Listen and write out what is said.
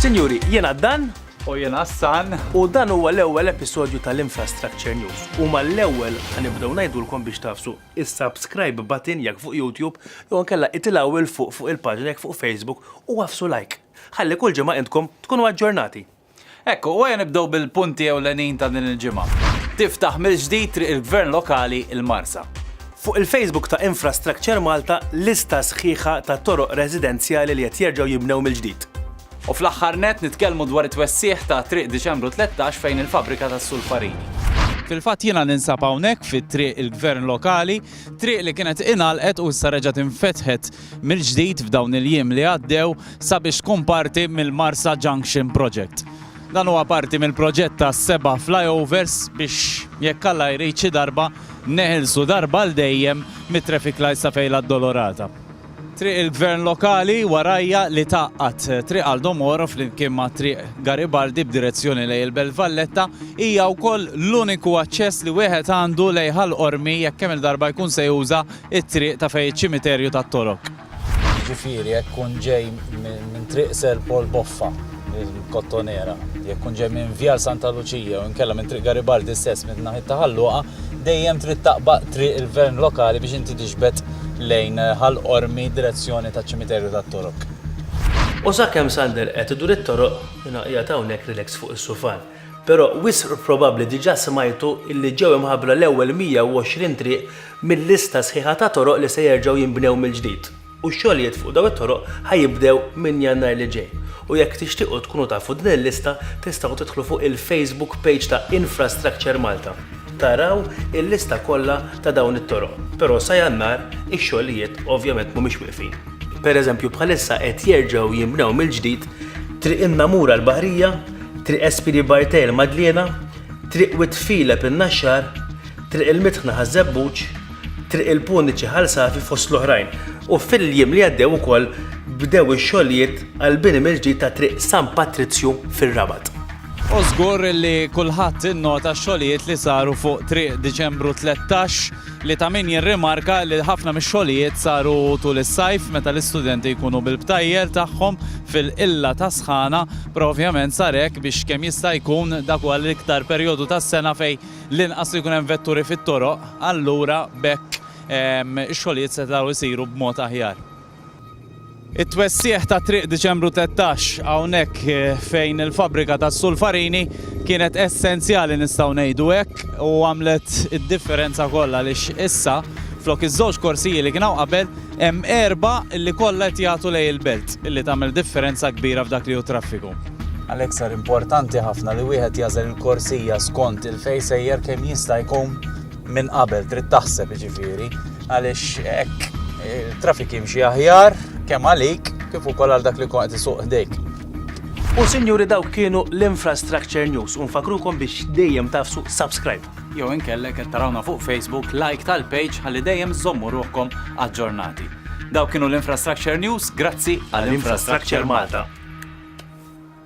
Sinjuri, jena dan u jena san u dan huwa l-ewwel episodju tal-Infrastructure News u mal-ewwel ħanibdew ngħidulkom biex tafsu is-subscribe button jekk fuq YouTube jew nkella itilgħu il fuq fuq il-paġna jekk fuq Facebook u għafsu like. Ħalli kull ġimgħa intkom tkunu aġġornati. Hekk hu, u ejja nibdew bil-punti ewlenin ta' din il-ġimgħa. Tiftaħ mill-ġdid Triq il-Gvern Lokali, il-Marsa. Fuq il-Facebook ta' Infrastructure Malta lista sħiħa ta' toroq residenzjali li qed jerġgħu jinbnew mill-ġdid. U fl-aħħar nett nitkellmu dwar it-twessigħ ta' Triq Diċembru 13 fejn il-fabbrika tas-sulfarini. Fil-fatt jiena ninsab hawnhekk fi Triq il-Gvern Lokali, triq li kienet ingħalqet u issa reġgħet infetħet mill-ġdid f'dawn il-jiem li għaddew sabiex tkun parti mill-Marsa Junction Project. Dan huwa parti mill-proġett ta' seba' flyovers biex jekk Alla jrid xi darba neħilsu darba għal dejjem mit-traffic lights ta' Fejn l-Addolorata. Triq il-Gvern Lokali warajja li tgħaqqad Triq Aldo Moro flimkien ma' Triq Garibaldi b'direzzjoni lejn il-Belt Valletta hija wkoll l-uniku aċċess li wieħed għandu lejn Ħal Qormi jekk kemm-il darba jkun se juża it-triq ta' fejn iċ-ċimiterju tat-Torok. Jiġifieri jekk tkun ġej minn Triq Sir Paul Boffa, il-Kottonera, jekk tkun ġej minn Vjal Santa Luċija jew inkella minn Triq Garibaldi stess minn naħiet ta' Ħal Luqa, dejjem trid taqbaq Triq il-Gvern Lokali biex inti tixbet lejn Ħal Qormi direzzjoni taċ-ċimiterju tat-Torok. U sakemm Sander qed idur it-toroq, jiena qiegħed hawnhekk relax fuq is-sufan. Però wisq probabbli diġà smajtu illi ġew imħabbra l-ewwel 120 triq mil-lista sħiħa ta' toroq li se jerġgħu jinbnew mill-ġdid u x-xogħlijiet fuq dawn it-toroq ħa jibdew minn Jannar li ġej u jekk tixtiequ tkunu tafu din il-lista tistgħu tidħlu fuq il-Facebook page ta' Infrastructure Malta taraw il-lista kollha ta' dawn it-toroq però sa Jannar ix-xogħlijiet ovvjament mhumiex wieqfin. Per eżempju bħalissa qed jerġgħu jinbnew mill-ġdid Triq in-Namur għall-Baħrija, Triq Espiri Bartell ma' Dliena, Triq Wied Filep in-Naxxar, Triq il-Mitħna ħaż-Żebbuġ, Triq il-Puniċi Ħal Safi fost l-oħrajn. U fil-jiem li għaddew ukoll bdew ix-xogħlijiet għall-bini mill-ġdid ta' Triq San Patrizju fir-Rabat. U żgur li kulħadd innota x-xogħlijiet li saru fuq Triq Diċembru 13 li ta' min jirrimarka li ħafna mix-xogħlijiet saru tul is-sajf meta l-istudenti jkunu bil-btajjel tagħhom fil-qilla ta' sħana, però ovvjament sar hekk biex kemm jista' jkun dak huwa l-iktar perjodu tas-sena fejn l-inqas li jkun hemm vetturi fit-toroq, allura b'hekk ix-xogħlijiet setgħu jsiru b'mod aħjar. It-twessigħ ta' Triq Diċembru Tlettax hawnhekk fejn il-fabbrika tas-Sulfarini kienet essenzjali nistgħu ngħidu hekk u għamlet id-differenza kollha għaliex issa flok iż-żewġ korsiji li kien hawn qabel hemm erbgħa li kollha qed jagħtu lejn il-belt li tagħmel differenza kbira f'dak li hu t-traffiku. Għalhekk sar importanti ħafna li wieħed jażel il-korsija skont il-fej sejjer kemm jista' jkun minn qabel trid taħseb ġifieri għaliex hekk il-trafik jimxi aħjar kemm għalik kif ukoll għal dak li kont isuq ħdejk. U sinjuri dawk kienu l-Infrastructure News u nfakrukom biex dejjem tafsu subscribe. Jew inkella qed tarawna fuq Facebook, like tal-page ħalli dejjem żommu ruħkom aġġornati. Daw kienu l-Infrastructure News, grazzi għall-Infrastructure Malta.